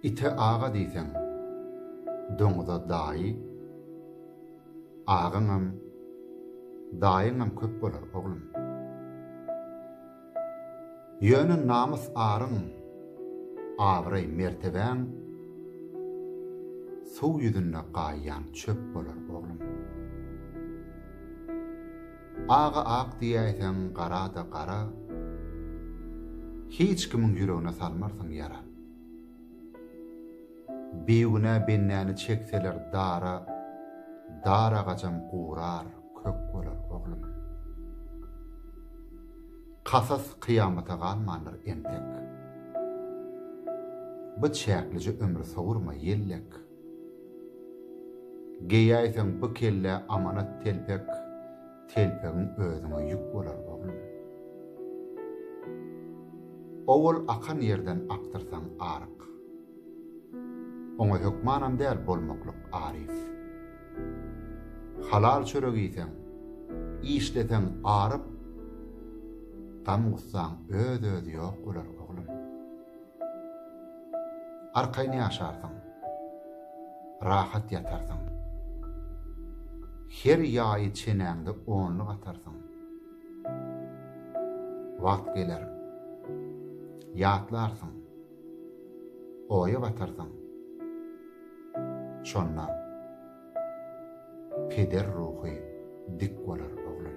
Ite aga diýseň, doňuza daýy, agyňam, daýyňam köp bolar, oglum. Ýöne namys-aryň, abraý-mertebäň suw ýüzünde gaýýan çöp bolar, oglum. Aga ak diýäýseň gara-da gara, Hiç kimiň ýüregine salmarsyň ýara. Bigünä bendäni çekseler dara, Dar agajam gurar, kök bolar, oglum. Kasas kyýamata galmandyr entek, Bu çäklije ömri sowurma ýel dek. Geýäýseň bu kellä amanat telpek, telpegiň özüňe ýük bolar oglum. Owal akan ýerden akdyrsaň aryk. Oňa hökmanam däl bolmaklyk aryf. Halal çörek iýseň, işleseň aryp, gam gussaň öz-özi ýok bolar oglum. Arkaýyn ýaşarsyň. Rahat ýatarsyň. Her ýaýy çenäňde onluk atarsyň. Wagt geler. Ýatlarsyň. Oýa batarsyň. Şonda peder ruhy dik bolar, oglan.